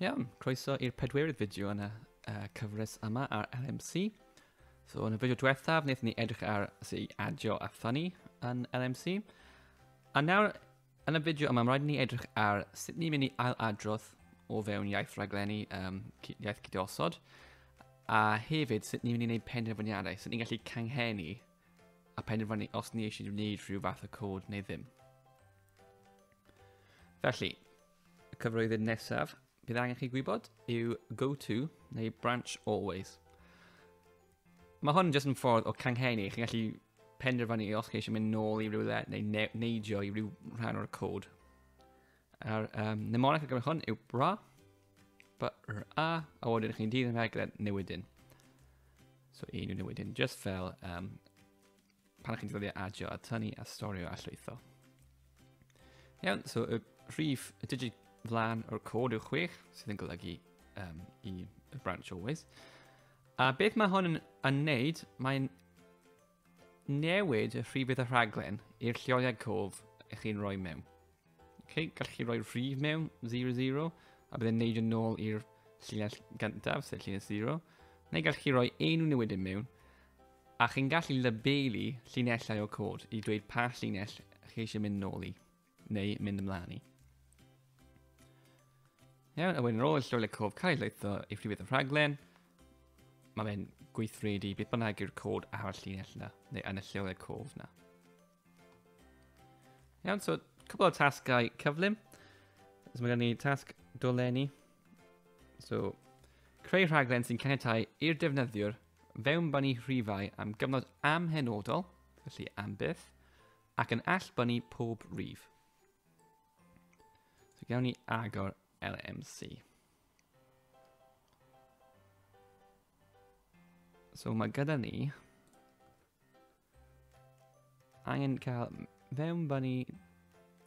Iawn, croeso i'r pedwerydd fideo yn y uh, cyfres yma ar LMC. So yn y fideo diwethaf, wnaethon ni edrych ar sut i adio a ffynnu yn LMC. A nawr, yn y fideo yma, mae rhaid ni edrych ar sut ni'n mynd i ail adrodd o fewn iaith raglenni um, iaith cydosod, a hefyd sut ni'n mynd i wneud penderfyniadau, sut ni'n gallu canghennu a penderfynu os ni eisiau gwneud rhyw fath o cod neu ddim. Felly, y cyfrwyddyd nesaf bydd angen chi gwybod yw go to neu branch always. Mae hwn jyst yn ffordd o canghennu. Chi'n gallu penderfynu os chi eisiau mynd nôl i rywle neu ne neidio i ryw rhan o'r cod. A'r um, mnemonic ar gyfer hwn yw bra, br a, a wedyn chi'n dyn yn rhaid gyda newidyn. So un yw newidyn, just fel um, pan chi'n defnyddio adio a tynnu a storio a llwytho. Iawn, so y rhif, y digit flan o'r cod yw 6, sydd yn golygu um, i y branch always. A beth mae hon yn, yn neud, mae'n newid y rhifydd y rhaglen i'r lleoliad cof ych chi'n rhoi mewn. Okay, gallwch chi roi rhif mewn, 0, 0, a byddai'n neud yn ôl i'r llinell gyntaf, sef llinell 0, neu gallwch chi roi enw newid yn mewn, a chi'n gallu labelu llinellau o cod i dweud pa llinell chi eisiau mynd nôl i, neu mynd ymlaen i. Iawn, a wedyn ar ôl y llwylo cof cael ei leitho i ffrifedd y rhaglen, mae fe'n gweithredu beth bynnag yw'r cod ar y llinell yna, neu yn y llwylo cof yna. Iawn, so cwbl o tasgau cyflym. So mae gen ni tasg dolenni. So, creu rhaglen sy'n caniatau i'r defnyddiwr fewn banu rhifau am gyfnod amhenodol, felly am byth, ac yn all banu pob rhif. So gawn ni agor LMC. So mae gyda ni Angen cael mewnbon i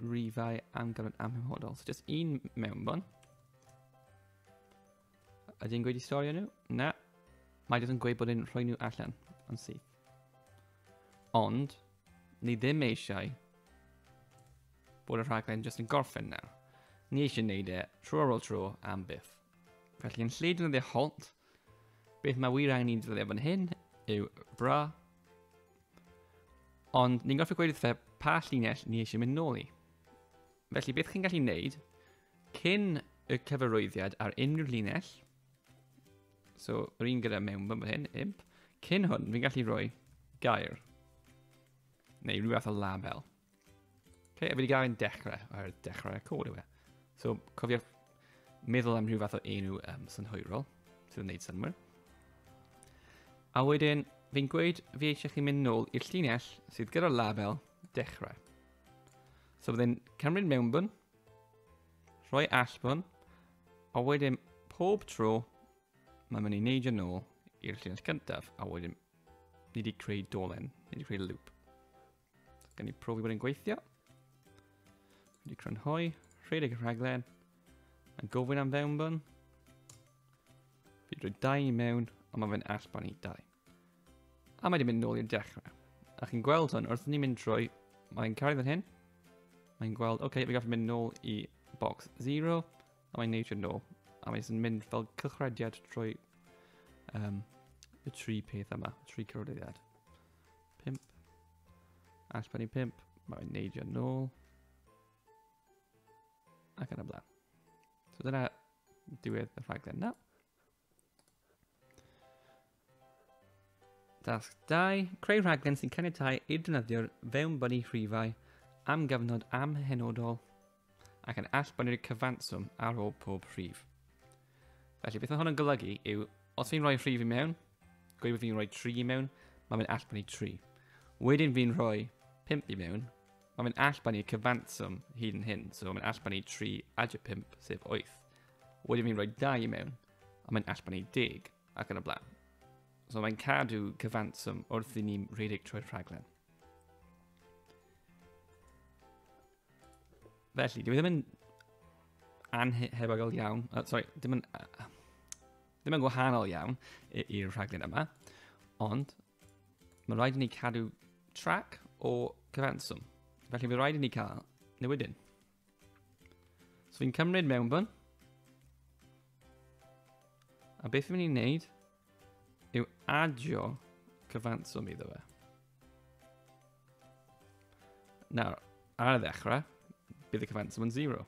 rifau amgalon amhymhodol. So just un mewnbon. Ydy'n gweud i storio nhw? Na. Mae jyst yn gweud bod yn rhoi nhw allan yn syth. Ond, ni ddim eisiau bod y rhaglen jyst yn gorffen nawr. Ni eisiau wneud e tro ar ôl tro am byth. Felly yn lle defnyddio halt, Beth mae wir angen i'n ddylio fan hyn yw bra. Ond ni'n gorfod gweud wrtho pa llinell ni eisiau mynd nôl i. Felly beth chi'n gallu wneud cyn y cyfarwyddiad ar unrhyw llinell, so yr un gyda mewn fan hyn, imp, cyn hwn fi'n gallu rhoi gair neu rhywbeth o label. Okay, fi wedi gael ein dechrau ar dechrau cod yw e. So, cofio meddwl am rhyw fath o enw um, synhwyrol sydd yn gwneud synwyr. A wedyn, fi'n gweud fi eisiau chi mynd nôl i'r llinell sydd gyda'r label dechrau. So byddai'n cymryd mewnbwn, rhoi allbwn, a wedyn pob tro mae'n mynd i neidio nôl i'r llinell cyntaf, a wedyn ni wedi creu dolen, ni wedi creu loop. Gan i profi bod yn gweithio. Wedi crynhoi, rhedeg y rhaglen, yn gofyn am fewnbwn. Fi drwy dau i mewn, ond mae fe'n allbon i dau. A mae wedi mynd nôl i'r dechrau. A chi'n gweld hwn, wrth ni'n mynd drwy, mae'n cael ei hyn. Mae'n gweld, oce, okay, fi gallu mynd nôl i box 0, a mae'n neud i'r nôl. A mae'n mynd fel cychrediad trwy um, y tri peth yma, y tri cyrodyddiad. Pimp. A sbynnu pimp. Mae'n neidio nôl. Ac yn y blaen. So dyna diwedd y rhaglen na. Dasg 2. Creu rhaglen sy'n caniatau i'r defnyddiwr fewn bynnu rhifau am gyfnod amhenodol ac yn allbynnu'r cyfanswm ar ôl pob rhif. Felly beth mae hwn yn golygu yw, os fi'n rhoi rhif i mewn, gweud bod fi'n rhoi 3 i mewn, mae fe'n allbynnu 3. Wedyn fi'n rhoi 5 i mewn, mae fe'n allbynnu cyfanswm hyd yn hyn, so mae'n allbynnu 3 adio 5, sef 8. Wedyn fi'n rhoi 2 i mewn, a mae'n allbynnu 10, ac yn y blaen. So mae'n cadw cyfanswm wrth i ni'n rhedeg trwy'r rhaglen. Felly, dwi ddim yn anhebygol iawn, uh, sorry, ddim yn, uh, ddim yn gwahanol iawn i'r rhaglen yma, ond mae'n rhaid i ni cadw trac o cyfanswm. Felly, mae'n rhaid i ni cael newidyn. So fi'n cymryd mewnbwn, a beth fi'n mynd i'n neud yw adio cyfanswm iddo fe. Nawr, ar y ddechrau, bydd y cyfanswm yn 0.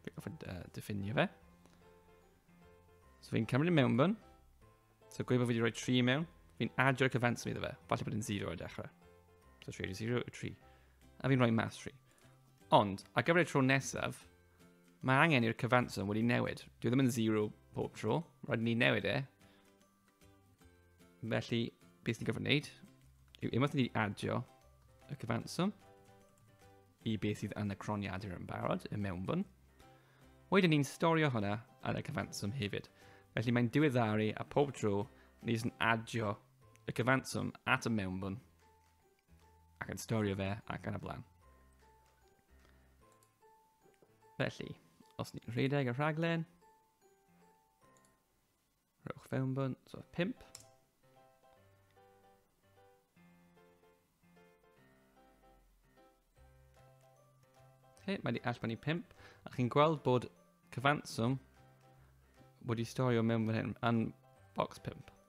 Fi'n gofyn uh, diffinio fe. So fi'n cymryd mewn byn. So gweud bod fi wedi rhoi 3 mewn. Fi'n adio'r cyfanswm iddo fe. Falle bod yn 0 ar y dechrau. So 3 0, 3. A fi'n rhoi mas 3. Ond, ar gyfer y tro nesaf, Mae angen i'r cyfanswm wedi newid. Dwi ddim yn zero bob tro. Rhaid ni newid e. Felly, beth ni'n gyfer wneud yw unwaith ni adio y cyfanswm i beth sydd yn y croniadur yn barod, y mewnbwn, wedyn ni'n storio hwnna yn y cyfanswm hefyd. Felly mae'n diweddaru a pob tro ni jyst yn adio y cyfanswm at y mewnbwn ac yn storio fe ac yn y blaen. Felly, os ni'n rhedeg y rhaglen, rhowch fewn bwnt, so 5. Okay, mae wedi allbynnu 5, a chi'n gweld bod cyfanswm wedi storio mewn fan hyn, yn box 5.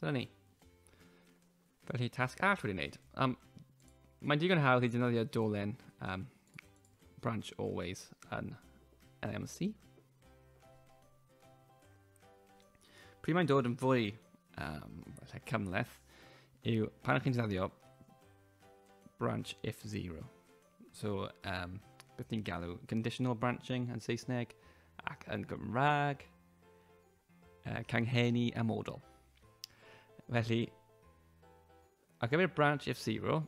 Dyna ni. Felly, tasg arall wedi wneud. Um, mae'n digon hawdd i dynyddio dolen um, branch always yn LMC. Pryd mae'n dod yn fwy um, cymleth yw pan chi'n dynyddio branch if zero. So, um, beth ni'n galw? Conditional branching yn Saesneg ac yn Gymraeg. Uh, canghenni a model. Felly, a gyfer branch if zero,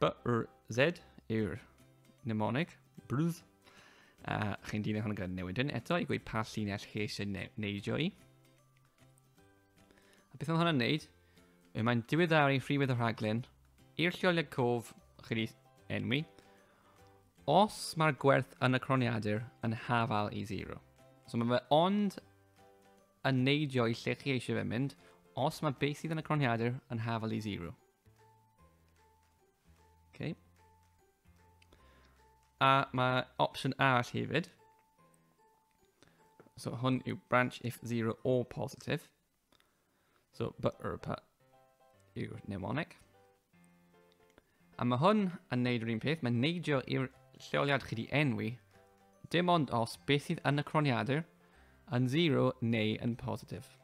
b r z yw'r mnemonig, brwdd. A chi'n dilyn hwn gyda newid yn eto i gweud pa llinell chi eisiau neidio i. A beth mae hwnna'n neud? Yw mae'n diweddaru rhywedd y rhaglun i'r lleoliad cof chi wedi enwi os mae'r gwerth yn y croniadur yn hafal i 0. So mae fe ond yn neidio i lle chi eisiau fe mynd os mae beth sydd yn y croniadur yn hafal i 0. Okay. A mae opsiwn arall hefyd, So hwn yw branch if zero or positive. So but or but yw'r mnemonic. A mae hwn yn neud yr un peth, mae'n neidio i'r lleoliad chi di enwi, dim ond os beth sydd yn y croniadur yn 0 neu yn positif.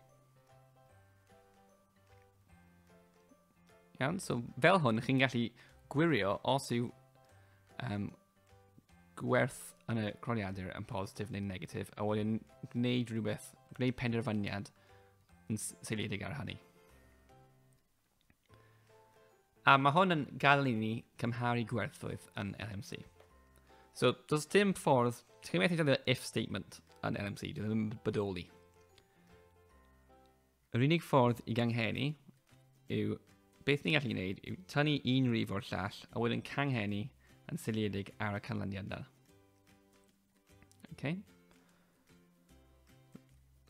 Iawn, so fel hwn, chi'n gallu gwirio os yw um, gwerth yn y croniadur yn positif neu'n negatif, a wedyn gwneud rhywbeth, gwneud penderfyniad yn seiliedig ar hynny. A mae hwn yn gadael i ni cymharu gwerthoedd yn LMC. So, does dim ffordd, ti'n methu defnyddio if statement yn LMC, dwi ddim yn bodoli. Yr unig ffordd i ganghennu yw beth ni'n gallu gwneud yw tynnu un rif o'r llall a wedyn canghennu yn seiliedig ar y canlyniad yna. Okay.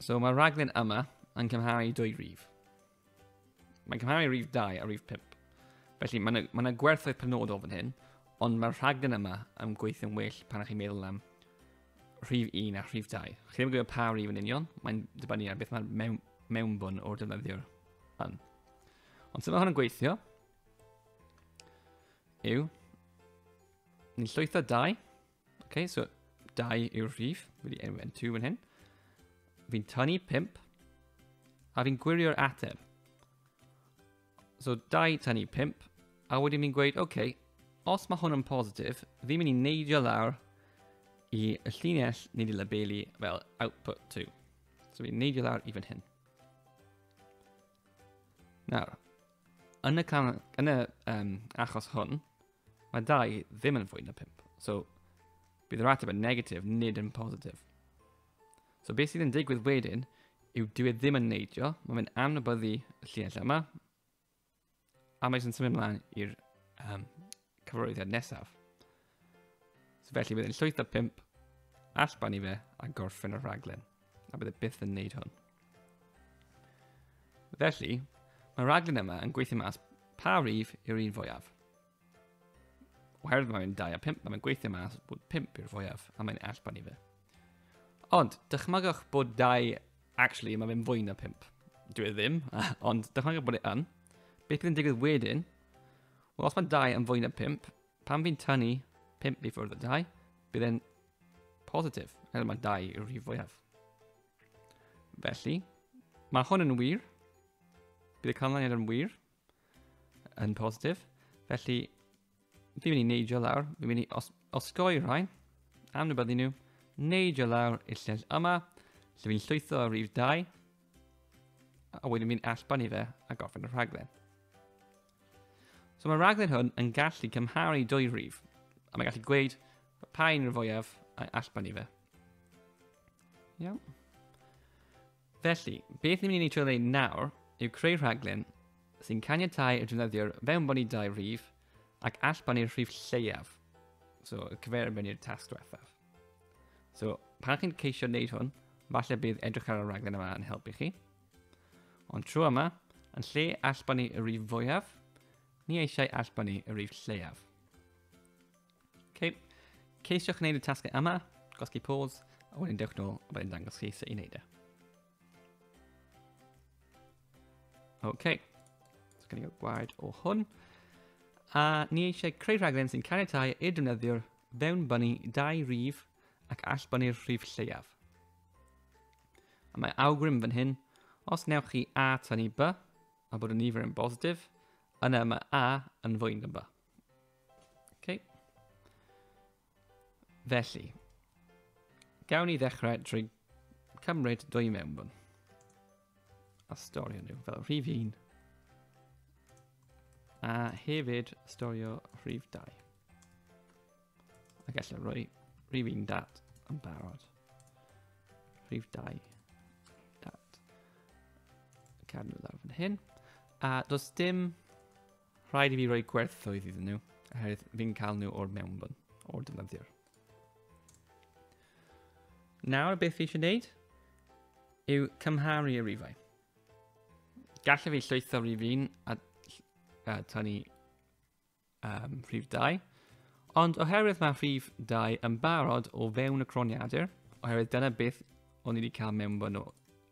So mae'r rhaglen yma yn cymharu dwy rif. Mae'n cymharu rif 2 a rif 5. Felly mae yna, mae yna gwerthoedd penodol fan hyn, ond mae'r rhaglen yma yn gweithio'n well pan ych chi'n meddwl am rhif 1 a rhif 2. Chi ddim yn gwybod pa rhif yn union, mae'n dibynnu ar beth mae'r mewn, mewnbwn o'r defnyddiwr yn. Ond sut mae hwn yn gweithio yw, ni'n llwytho 2, okay, so 2 yw'r rhif, wedi enw yn 2 yn hyn, fi'n tynnu 5, a fi'n gwirio'r ateb. So 2 tan i 5, a wedyn ni'n gweud, oce, okay, os mae hwn yn positif, fi'n mynd i neidio lawr i y llinell nid i labelu fel output to. So fi'n neidio lawr i fan hyn. Nawr, yn y, can, yn y um, achos hwn, mae 2 ddim yn fwy na 5. So bydd yr ateb yn negatif, nid yn positif. So beth sydd yn digwydd wedyn yw dyw e ddim yn neidio, mae fe'n anwybyddu y llinellau yma, a mae eisiau'n symud ymlaen i'r um, cyfarwyddiad nesaf. So felly bydd yn llwyth o pimp allban i fe a gorffen y rhaglen, a bydd e byth yn neud hwn. Felly, mae rhaglen yma yn gweithio mas pa rif yw'r un fwyaf. Oherwydd mae fe'n 2 a 5, mae'n gweithio mas bod 5 i'r fwyaf, a mae'n allban i fe. Ond, dychmygwch bod 2, actually, mae fe'n fwy na 5. Dwi e ddim, ond dychmygwch bod e yn. Beth bydd yn digwydd wedyn? Wel, os mae 2 yn fwy na 5, pan fi'n tynnu 5 i ffwrdd o 2, bydd e'n positif, er mae 2 yw'r rhif fwyaf. Felly, mae hwn yn wir, bydd y canlyniad yn wir, yn positif. Felly, fi'n mynd i neidio lawr, fi'n mynd i os osgoi rhain, am nhw byddu nhw, neidio lawr i'r llyll yma, lle fi'n llwytho ar rif 2, a wedyn fi'n allban i fe a gorffen y rhaglen. So mae'r rhaglen hwn yn gallu cymharu dwy rif, a mae'n gallu gweud pa un o'r fwyaf a allban i fe. Iawn. Felly, beth ni'n mynd i trio wneud nawr yw creu rhaglen sy'n caniatau y defnyddiwr fewnbon i dau rhif ac allbon i'r rhif lleiaf. So, cyfer yn mynd i'r tasg diwethaf. So, pan chi'n ceisio wneud hwn, falle bydd edrych ar y raglen yma yn helpu chi. Ond tro yma, yn lle allbon ni y rif fwyaf, ni eisiau allbon ni y rif lleiaf. Okay. Ceisiwch wneud y tasgau yma, gosgi pause, a wedyn dewch nôl a wedyn dangos chi sut i wneud e. OK. So gen i gael gwaed o hwn. A ni eisiau creu rhaglen sy'n caniatau i'r defnyddiwr fewn bunny dau rif ac all bunny'r rhif lleiaf. A mae awgrym fan hyn, os newch chi A tynnu B, a bod y nifer yn bositif, yna mae A yn fwy na B. Okay. Felly, gawn ni ddechrau drwy cymryd dwy mewnbwn a storio nhw fel rhif 1 a hefyd storio rhif 2 a gallu rhoi rhif 1 dat yn barod rhif 2 dat cadw lawr fan hyn a does dim Rhaid i fi roi gwerthoedd iddyn nhw, oherwydd fi'n cael nhw o'r mewnbwn, o'r defnyddiwr. Nawr, beth fi eisiau gwneud yw cymharu y rifau. Gallai fi llwytho rif un a, a tynnu um, rhif 2, ond oherwydd mae rhif 2 yn barod o fewn y croniadur, oherwydd dyna beth o'n i wedi cael mewnbwn o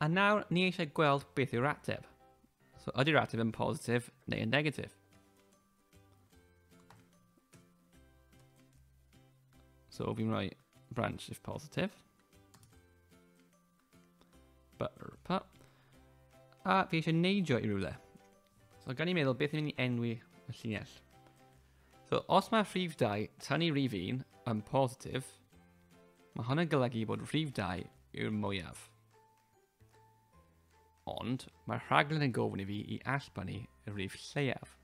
A nawr, ni eisiau gweld beth yw'r ateb. So, ydy'r ateb yn positif neu yn negatif? So, fi'n rhoi branch if positive. But, but. A fi eisiau neidio i rywle. So, gan i meddwl beth yw'n mynd i enwi y llinell. So, os mae rhif 2, tan i rhif 1 yn positif, Mae hwn yn golygu bod rhif 2 yw'r mwyaf. Ond mae'r rhaglen yn gofyn i fi i allbanu y rhif lleiaf.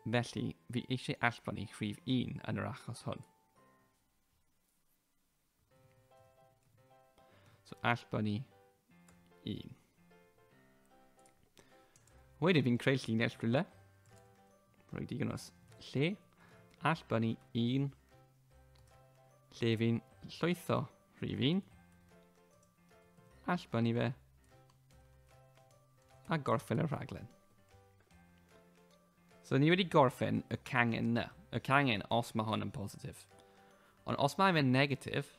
Felly, fi eisiau allbanu rhif 1 yn yr achos hwn. So allbanu 1. Wedyn fi'n creu llinell rhywle. Rwy'n digon os lle. Allbanu 1 Lle fi'n llwytho rhif un. Allbynnu fe. A gorffen y rhaglen. So ni wedi gorffen y cangen na. Y cangen os mae hwn yn positif. Ond os mae fe'n negatif,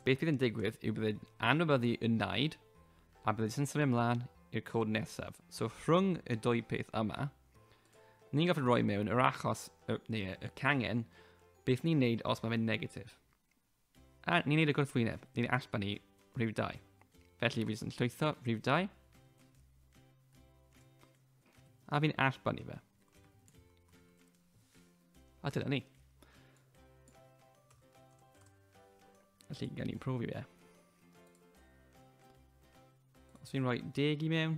beth bydd yn digwydd yw bydd anwybyddu yn naid a bydd yn symud ymlaen i'r cod nesaf. So rhwng y dwy peth yma, Ni'n gallu rhoi mewn yr achos, y, neu y cangen, beth ni'n neud os mae fe'n negatif. A ni'n neud y gwrthwyneb, ni'n allbanu rhyw dau. Felly fi jyst yn llwytho rhyw dau. A fi'n allbanu fe. A dyna ni. Felly, gan ni'n profi fe. Os fi'n rhoi deg i mewn,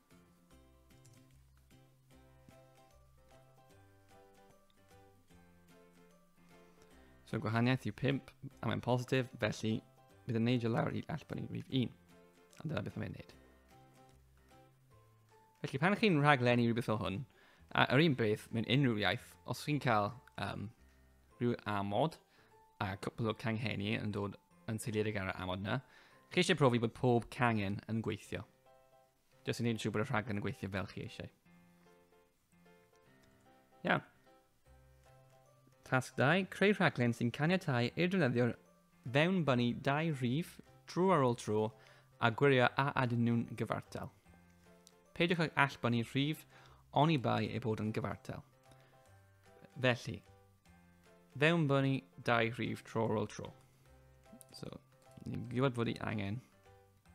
So gwahaniaeth yw 5 a mae'n positif, felly bydd yn neidio lawr i all bod ni'n rhif 1. A dyna beth mae'n neud. Felly pan chi'n rhaglenni rhywbeth o hwn, a yr un beth mewn unrhyw iaith, os chi'n cael um, rhyw amod a cwpl o canghenni yn dod yn seiliedig ar y amod yna, chi eisiau profi bod pob cangen yn gweithio. Jyst yn gwneud siŵr bod y rhaglen yn gweithio fel chi eisiau. Iawn. Tasg 2, creu rhaglen sy'n caniatau i'r defnyddiwr fewn bunny dau rhif drwy ar ôl tro a gwirio a adyn nhw'n gyfartal. Peidiwch ag all bunny rhif oni bai ei bod yn gyfartal. Felly, fewn bunny dau rhif tro ar ôl tro. So, ni'n gwybod fod i angen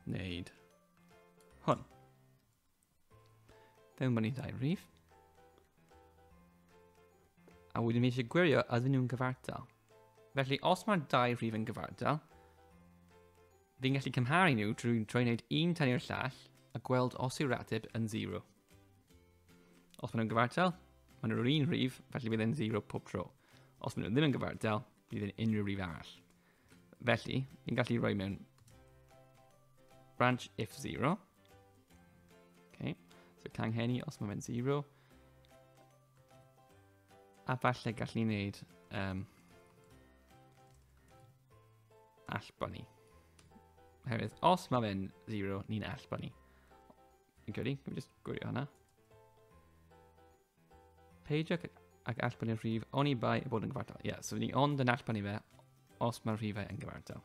wneud Hwn. Fewn bod ni'n ddau rif. A wedyn mi eisiau gwirio ydyn nhw'n gyfartal. Felly, os mae'r dau rif yn gyfartal, fi'n gallu cymharu nhw drwy drwy wneud un tan i'r llall a gweld os yw'r ateb yn 0. Os maen nhw'n gyfartal, maen nhw'r un rhif, felly bydd e'n 0 pob tro. Os maen nhw ddim yn gyfartal, bydd e'n unrhyw rhif arall. Felly, ni'n gallu rhoi mewn branch if 0. Okay. So canghenni os mae fe'n 0. A falle gallu wneud um, allboni. Oherwydd, os mae fe'n 0, ni'n allboni. Fi'n credu, can we just gwirio hwnna? Peidiwch ag allbynnu'r rhif oni bai bod yn gyfartal. Ie, yeah, so ni ond yn allbynnu fe os mae'r rhifau yn gyfartal.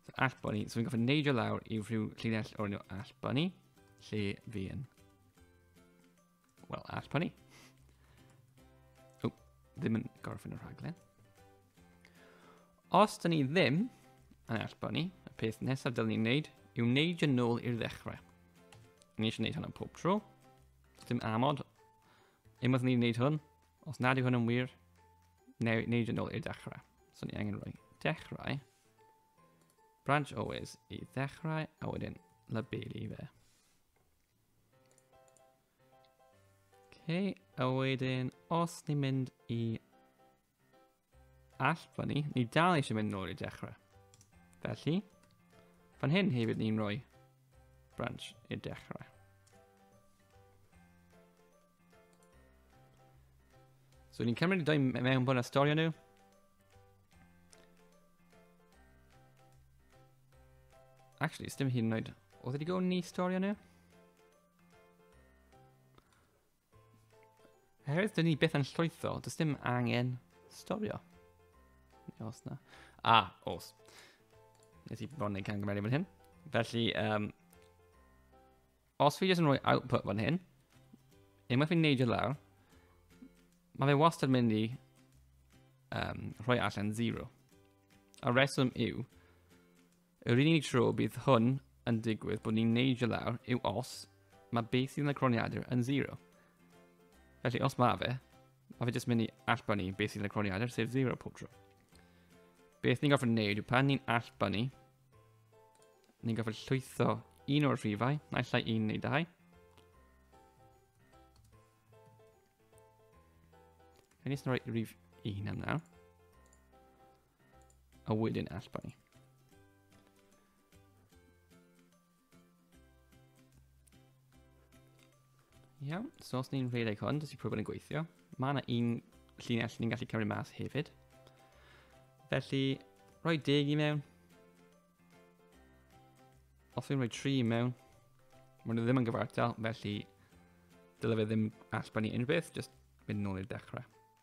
So allbynnu, so fi'n gofyn neidio lawr i rhyw llinell o'r enw allbynnu, lle fi yn... Wel, allbynnu. O, ddim yn gorffen y rhaglen. Os dyn ni ddim yn allbynnu, y peth nesaf dylwn ni'n neud yw neidio nôl i'r ddechrau. Ni eisiau neud hwnna pob tro. Dim amod. Unwaith ni'n gwneud hwn, os nad yw hwn yn wir, neu wneud yn ôl i'r dechrau. So ni angen rhoi dechrau, branch always i ddechrau, a wedyn labelu fe. Okay, a wedyn, os ni'n mynd i All, fan ni, ni dal eisiau mynd nôl i dechrau. Felly, fan hyn hefyd ni'n rhoi branch i dechrau. So ni'n cymryd y dau mewn bod a storio nhw. Actually, dim hyn yn oed. Oedd wedi gofyn ni storio nhw? Oherwydd dyn ni beth yn llwyddo, does dim angen storio. Os na. A, os. Nes i fod yn ei camgymeriad fan hyn. Felly, um, os fi jyst yn rhoi output fan hyn, unwaith fi'n neidio lawr, mae fe wastad yn mynd i um, rhoi allan 0. A reswm yw, Yr unig tro bydd hwn yn digwydd bod ni'n neidio lawr yw os mae beth sydd yn y croniadur yn 0. Felly os mae fe, mae fe jyst mynd i allbanu beth sydd yn y croniadur, sef 0 pob tro. Beth ni'n gorfod neud yw pan ni'n allbanu, ni'n gorfod llwytho un o'r rhifau, naill ai un neu dau. Rhaid ni'n rhoi rhif un am nawr. A wedyn Alban ni. Iawn, so os ni'n rhedeg hwn, dydy prwfod yn gweithio. Mae yna un llinell ni'n gallu cymryd mas hefyd. Felly, rhoi deg i mewn. Os fi'n rhoi tri i mewn, mae nhw ddim yn gyfartal, felly dylai fe ddim allbanu unrhyw beth, jyst mynd nôl i'r dechrau.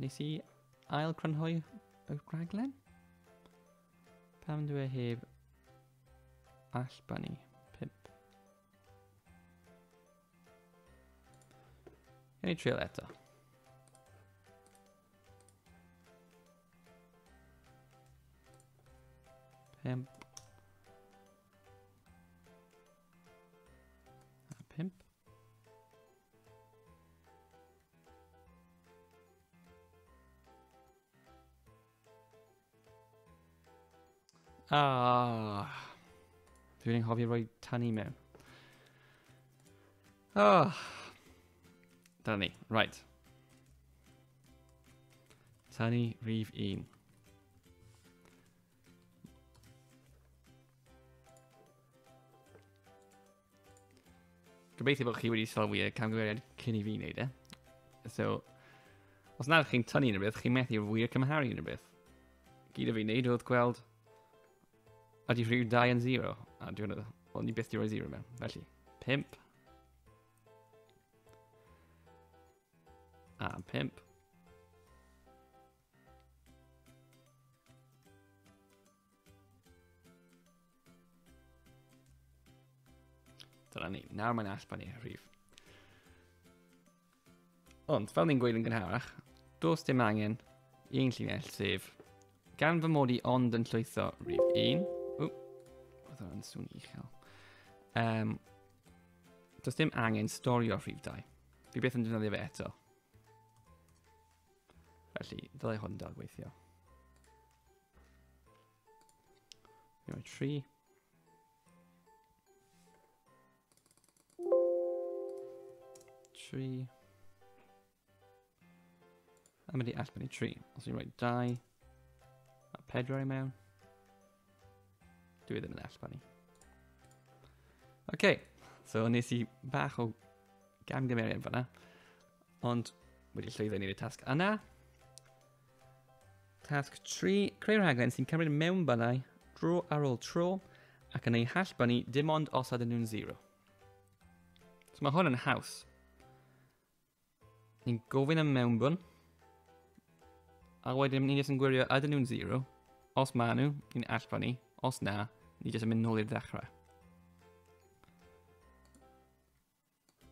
Nes i ail crynhoi y rhaglen? Pam dwi e heb allbani? Pimp. Yn i trial eto. Pimp. Ah. Dwi wedi anghofio rhoi tan i mewn. Ah. Dyna ni. Right. Tani rhif 1. Gobeithio bod chi wedi sylwi y camgymeriad cyn i fi wneud e. So, os nad chi'n tynnu yn rhywbeth, chi'n methu wir cymharu yn rhywbeth. Gyd o fi wneud oedd gweld ydy rhyw 2 yn 0, a dwi'n meddwl, wel, ni byth di roi 0 mewn, felly, 5. A 5. Dyna ni. Nawr mae'n allpa ni rhif. Ond, fel ni'n gweud yn gynharach, dos dim angen i ein llinell sef gan fy mod i ond yn llwytho rhif 1. Ww, oedd hwnna'n swn i chael. Um, does dim angen storio rhif 2. Fi beth yn defnyddio fe eto. Felly, ddylai hwn dal gweithio. Iawn, tri. Tri. A mynd i allbyn i tri. Os i'n rhoi dau. A pedwar i mewn. Dwi ddim yn allbyn i. Oce, okay, so nes i bach o gamgymeriad fanna. Ond wedi llwyddo i wneud y tasg yna. Tasg 3. Creu rhaglen sy'n cymryd mewnbynnau dro ar ôl tro ac yn eu hallbynnu dim ond os ydyn nhw'n zero. So mae hwn yn haws. Ni'n gofyn am mewnbwn. A wedyn ni'n jyst yn gwirio ydyn nhw'n zero. Os maen nhw, ni'n allpa ni. Os na, ni jyst yn mynd nôl i'r ddechrau.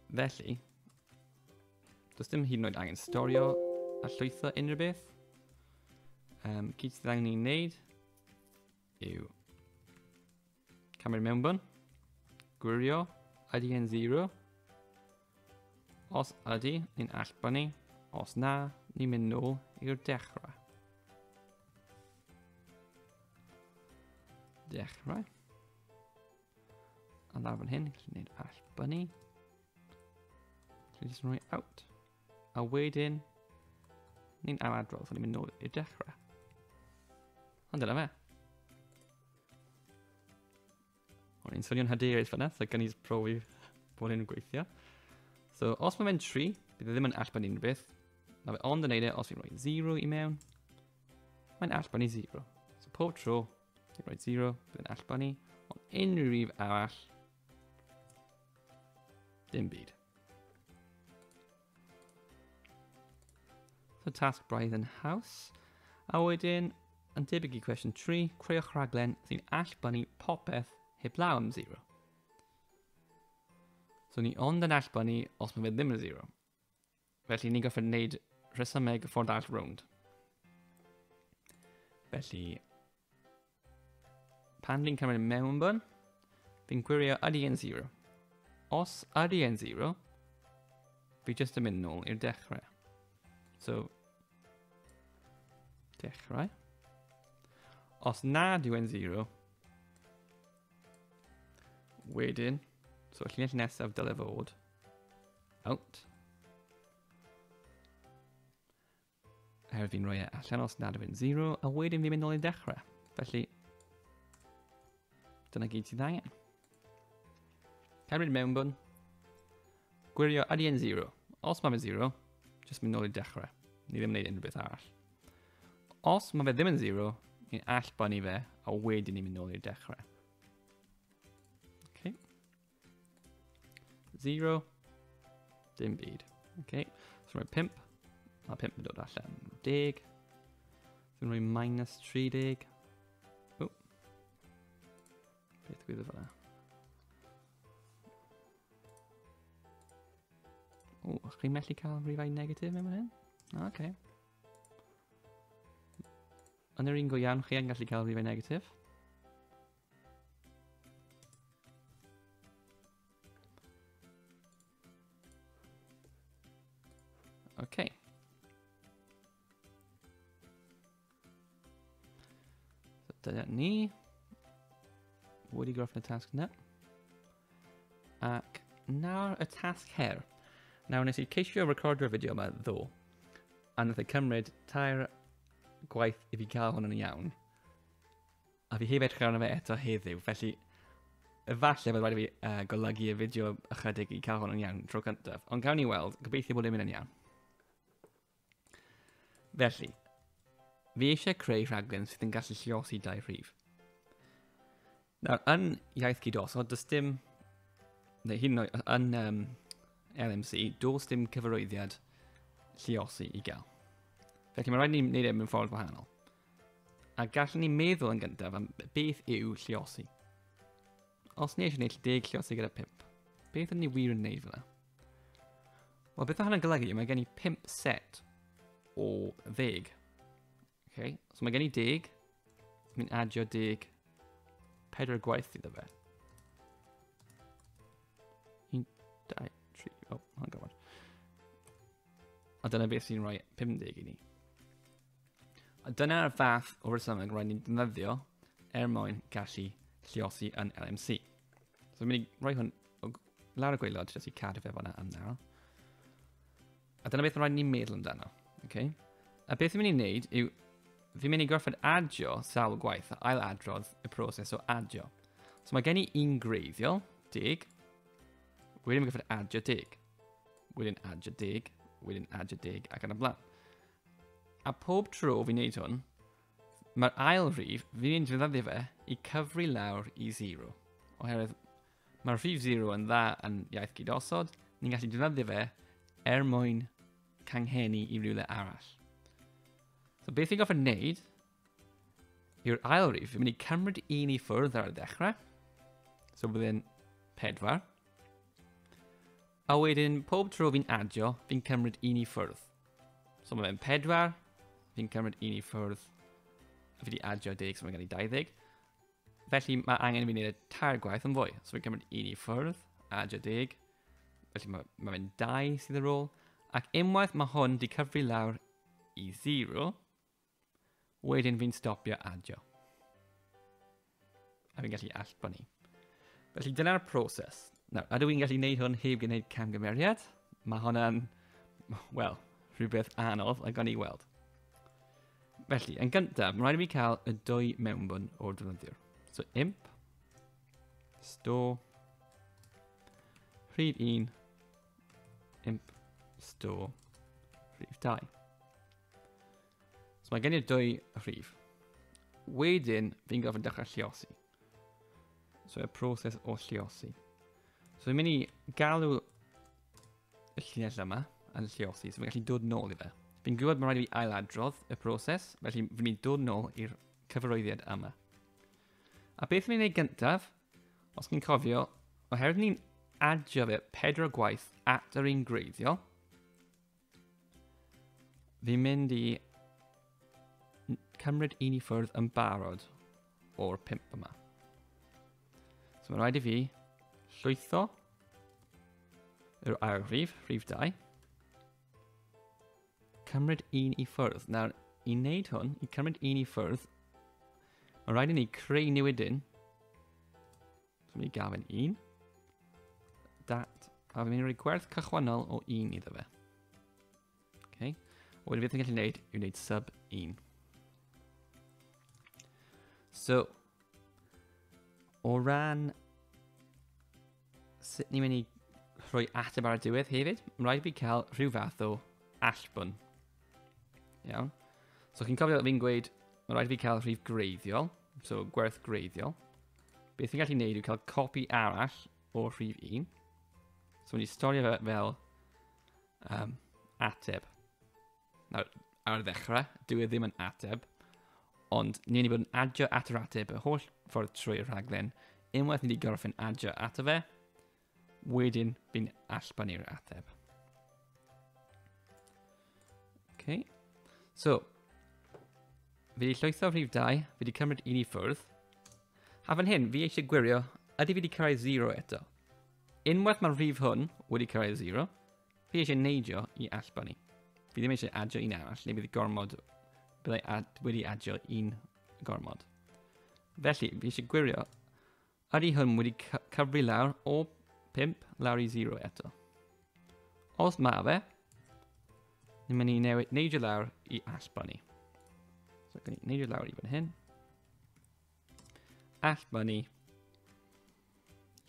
Felly, does dim hyd yn oed angen storio a llwytho unrhyw beth. Um, gyd sydd angen ni'n neud yw camu'r mewnbwn, gwirio ydy yn 0. Os ydy, ni'n allbynnu. Os na, ni'n mynd nôl i'r dechrau. Dechrau. A lawr fan hyn, chi'n gwneud all bunny. Chi'n just rhoi out. A wedyn, ni'n am adrodd, so ni'n mynd nôl i'r dechrau. Ond dyna fe. O'n i'n swnio'n hyderus fanna, so gan i'n profi bod hyn yn gweithio. So, os mae fe'n 3, bydd e ddim yn allbyn unrhyw beth. Mae fe ond yn neud e os fi'n rhoi 0 i mewn. Mae'n allbyn i 0. So, pob tro, Rhaid 0, bydd yn allba ni. Ond unrhyw rif arall, dim byd. So tasg braidd yn haws. A wedyn, yn debyg i cwestiwn 3, creuwch rhaglen sy'n allbynnu popeth heblaw am 0. So ni ond yn allbynnu os mae fe ddim yn 0. Felly ni'n gorfod wneud rhesymeg ffordd all rownd. Felly, pan fi'n cymryd mewn bwn, fi'n gwirio ydy yn 0. Os ydy yn 0, fi jyst yn mynd nôl i'r dechrau. So, dechrau. Os nad yw yn 0, wedyn, so llinell nesaf dyle fod Out. Her fi'n rhoi e allan os nad yw'n 0, a wedyn fi'n mynd ôl i dechrau. Felly, dyna gyd sydd angen. Cymryd mewnbwn. Gwirio ydy yn 0. Os mae fe 0, jyst mynd ôl i dechrau. Ni ddim yn gwneud unrhyw beth arall. Os mae fe ddim yn 0, ni'n allbanu fe, a wedyn ni'n mynd ôl i'r dechrau. Zero. Dim byd. Okay. So rhoi 5. Mae 5 yn dod allan. 10. Fi'n rhoi minus 30. O. Beth gwyddo fel O, chi'n methu cael rhifau negatif mewn hyn? O, okay. Yn yr un go iawn, chi yn gallu cael rhifau negatif. Okay. Dyna ni. Wedi gorffen y tasg na. Ac nawr y tasg her. Nawr nes i ceisio recordio'r fideo yma ddo. A nath ei cymryd tair gwaith i fi cael hwn yn iawn. A fi heb edrych arno fe eto heddiw, felly efallai bod rhaid i fi uh, golygu y fideo ychydig i cael hwn yn iawn tro cyntaf. Ond gawn ni weld, gobeithio bod e'n mynd yn iawn. Felly, fi eisiau creu rhaglen sydd yn gallu lliosi dau rhif. Nawr, yn iaith gydosod, does dim, neu hyn oed, yn um, LMC, does dim cyfarwyddiad lliosi i gael. Felly mae rhaid ni wneud e mewn ffordd wahanol. A gallwn ni meddwl yn gyntaf am beth yw lliosi. Os ni eisiau gwneud 10 lliosi gyda 5, beth ydyn ni wir yn gwneud fyna? Wel, beth mae hynny'n golygu? Mae gen i 5 set o ddeg. Okay? So mae gen i deg, so mi'n adio deg pedwar gwaith iddo fe. Un, dau, tri, o, oh, hang on. A dyna beth sy'n rhoi 50 i ni. A dyna'r fath o resymeg rhaid ni'n defnyddio er mwyn gallu lliosi yn LMC. So dwi'n mynd i roi hwn o lawr y gweilod jyst i cadw fe fanna am nawr. A dyna beth rhaid ni'n meddwl amdano. Okay? A beth dwi'n mynd i'n neud yw fi'n mynd i gorfod adio sawl gwaith a ail adrodd y proses o adio. So mae gen i un greiddiol, deg, wedyn mae'n gorfod adio deg, wedyn adio deg, wedyn adio deg ac yn y blaen. A pob tro fi'n neud hwn, mae'r ail rhif, fi'n mynd i ddefnyddio fe i cyfri lawr i 0. Oherwydd mae'r rhif 0 yn dda yn iaith gyd-osod, ni'n gallu defnyddio fe er mwyn canghennu i rywle arall. So beth fi'n goffa wneud yw'r ail rif, fi'n mynd i cymryd un i ffwrdd ar y dechrau, so byddai'n pedwar. A wedyn, pob tro fi'n adio, fi'n cymryd un i ffwrdd. So mae fe'n 4. Fi'n cymryd un i ffwrdd. A fi wedi adio deg, so mae'n gen i 20. Felly mae angen i fi wneud y tair gwaith yn fwy. So fi'n cymryd un i ffwrdd, adio deg. Felly mae, mae fe'n 2 sydd ar ôl. Ac unwaith mae hwn wedi cyfri lawr i 0, Wedyn fi'n stopio adio. A fi'n gallu allbanu. Felly dyna'r proses. Nawr, ydw i'n gallu gwneud hwn heb gwneud camgymeriad? Mae hwnna'n, wel, rhywbeth anodd a gan i weld. Felly, yn gyntaf, mae'n rhaid i mi cael y dwy mewnbwn o'r defnyddiwr. So, imp, store, rhif 1, imp, store, rhif 2. So mae gen i'r dwy rhif. Wedyn, fi'n gofyn dechrau lliosi. So y proses o lliosi. So fi'n mynd i galw y llinell yma yn lliosi, so fi'n gallu dod nôl i fe. Fi'n gwybod mae'n rhaid i fi ailadrodd y proses, felly fi'n mynd i dod nôl i'r cyfarwyddiad yma. A beth fi'n gwneud gyntaf, os chi'n cofio, oherwydd ni'n adio fe pedro gwaith at yr un greiddiol, Fi'n mynd i cymryd un i ffwrdd yn barod o'r pimp yma. So mae'n rhaid i fi llwytho yr ail rhif, rhif 2, cymryd un i ffwrdd. Nawr, i wneud hwn, i cymryd un i ffwrdd, mae'n rhaid i ni creu newidyn So mi gafyn un. Dat. A fi'n mynd i roi gwerth cychwynnol o un iddo fe. Okay. Wedyn beth ni'n gallu gwneud yw wneud sub 1. So, o ran sut ni'n mynd i rhoi ateb ar y diwedd hefyd, mae'n rhaid fi cael rhyw fath o allbwn. Iawn. So chi'n cofio fi'n gweud, mae'n rhaid fi cael rhif greiddiol. So, gwerth greiddiol. Beth ni'n gallu gwneud yw cael copi arall o rhif 1. So, ni'n storio fe fel um, ateb. Nawr, ar ddechrau, dwi e ddim yn ateb, ond ni'n ni bod yn adio at yr ateb y holl ffordd trwy'r rhaglen, unwaith ni wedi gorffen adio ato fe, Wedyn, fi'n allbani'r ateb. Okay. So, fi wedi llwytho rhif 2, fi wedi cymryd un i ffwrdd. A fan hyn, fi eisiau gwirio, ydy fi wedi cyrraedd 0 eto? Unwaith mae'r rhif hwn wedi cyrraedd 0, fi eisiau neidio i allbani. Fi ddim eisiau adio un arall, neu bydd gormod, byddai ad, wedi adio un gormod. Felly, fi eisiau gwirio Ydy hwn wedi cyfri lawr o 5 lawr i 0 eto? Os mae fe, ni'n mynd i newid neidio lawr i aspa ni. So, gan i neidio lawr i fan hyn. Aspa ni.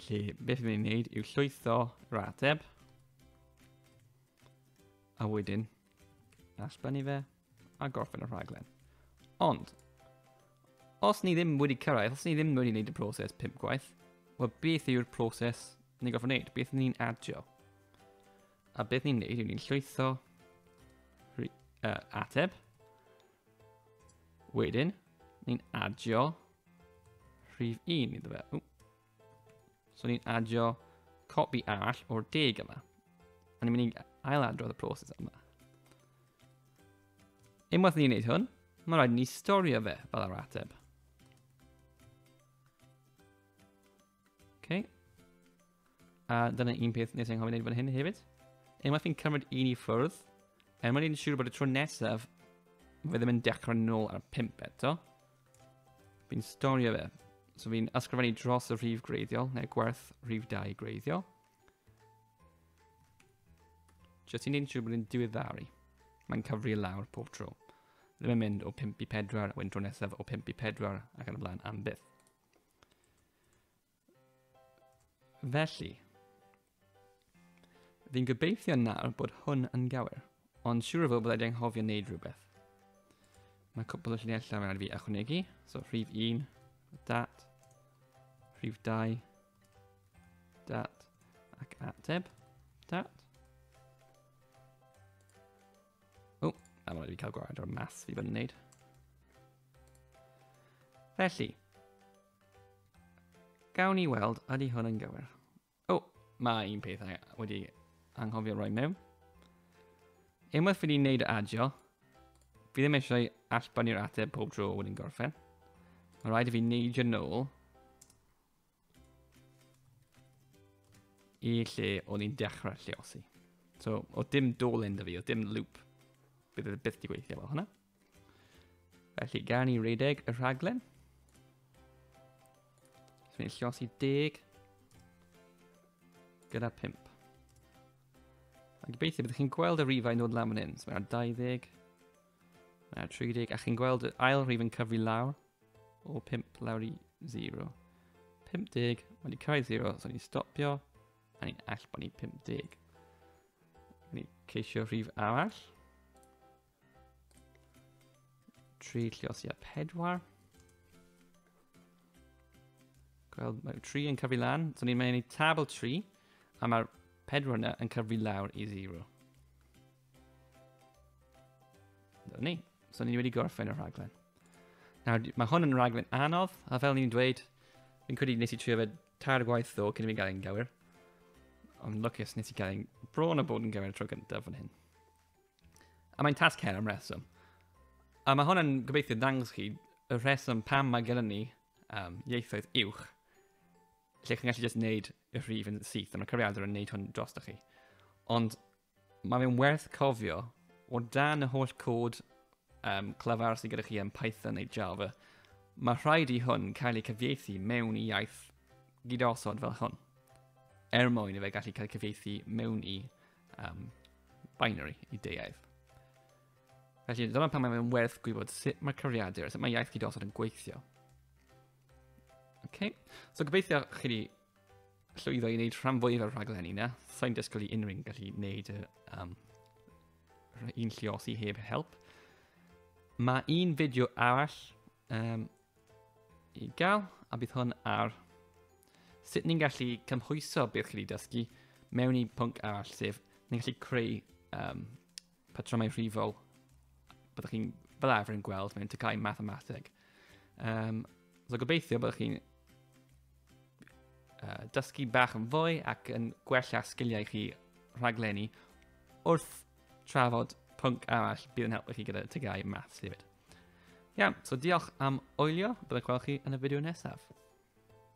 Lle beth ni'n neud yw llwytho rateb. A wedyn, aspa ni fe. a gorffen y rhaglen. Ond, os ni ddim wedi cyrraedd, os ni ddim wedi gwneud y proses pum gwaith, wel beth yw'r proses ni'n gorfod gwneud? Beth ni'n adio? A beth ni'n gwneud yw ni'n llwytho uh, ateb. Wedyn, ni'n adio rhif 1 iddo fe. Ww. So ni'n adio copi arall o'r deg yma. A ni'n mynd i ail adrodd y proses yma. Unwaith ni'n gwneud hwn, mae rhaid ni storio fe fel yr ateb. Okay. A dyna un peth nes i'n hoffi wneud fan hyn hefyd. Unwaith fi'n cymryd un i ffwrdd, er mwyn i'n siŵr bod y tro nesaf, fe ddim yn dechrau nôl ar y pimp eto. Fi'n storio fe. So fi'n ysgrifennu dros y rhif greiddiol, neu gwerth rhif 2 greiddiol. Jyst i'n neud siŵr bod yn diweddaru. Mae'n cyfri lawr pob tro. Ddim yn mynd o 5 i 4, a wedyn tro nesaf o 5 i 4, ac yn y blaen am byth. Felly, fi'n gobeithio nawr bod hwn yn gywir, ond siwr o fod bod wedi anghofio wneud rhywbeth. Mae cwpl o llinellau mae'n fi ychwanegu, so rhif 1, dat, rhif 2, dat, ac ateb, dat. O, na mae'n fi cael gwared o'r mas fi bod yn wneud. Felly, Gawn ni weld, ydy hwn yn gywir? O, oh, mae un peth wedi anghofio roi mewn. Unwaith fi wedi wneud adio, fi ddim eisiau allbynnu'r ateb pob tro o wedyn gorffen. Mae rhaid i fi wneud yn ôl i lle o'n i'n dechrau lleosi. So, o dim dolen da fi, o dim loop, bydd e byth di gweithio fel hwnna. Felly, gan ni redeg y rhaglen. Dwi'n ei llosi deg gyda 5. A gobeithio byddwch chi'n gweld y rifau yn dod lan fan hyn. So mae 20, mae 30, a chi'n gweld y ail rif yn cyfri lawr o 5 lawr i 0. 50, mae wedi cael 0, so ni'n stopio, a ni'n all bod ni 50. Ni'n ceisio rhif arall. Tri lliosiau pedwar. Gweld, mae tri yn cyfu lan. So ni'n mynd i tabl tri. A mae'r pedwar yna yn cyfu lawr i zero. Dyna ni. So ni wedi gorffen y rhaglen. Nawr, mae hwn yn rhaglen anodd, a fel ni'n dweud, fi'n credu nes i trio fe tair gwaith ddo cyn i mi gael ein gywir. Ond lwcus nes i gael ein bron o bod yn gywir tro gyntaf fan hyn. A mae'n tasg her am reswm. A mae hwnna'n gobeithio dangos chi y rheswm pam mae gennym ni um, ieithoedd uwch lle chi'n gallu just wneud y rhif yn syth a mae cyfriadau yn wneud hwn dros chi. Ond mae fe'n werth cofio o dan y holl cod um, clyfar sydd gyda chi yn Python neu Java, mae rhaid i hwn cael ei cyfieithu mewn i iaith gydosod fel hwn, er mwyn i fe gallu cael ei cyfieithu mewn i um, binary i deuaidd. Felly, dyma pan mae'n werth gwybod sut mae cyfriadur a sut mae iaith gydosod yn gweithio. Okay. So gobeithio chi wedi llwyddo i wneud rhan fwyaf o'r rhaglen i na. Sa'n dysgol i unrhyw'n gallu wneud y, um, un lliosi heb help. Mae un fideo arall um, I gael, a bydd hwn ar sut ni'n gallu cymhwyso beth chi wedi dysgu mewn i pwnc arall, sef ni'n gallu creu um, patrymau rhifol byddwch chi'n fel arfer yn gweld mewn tycau mathemateg. Um, so gobeithio byddwch chi'n uh, dysgu bach yn fwy ac yn gwella sgiliau chi rhaglenni wrth trafod pwnc arall bydd yn helpu chi gyda tygau maths hefyd. Iawn, so diolch am oelio, byddai gweld chi yn y fideo nesaf.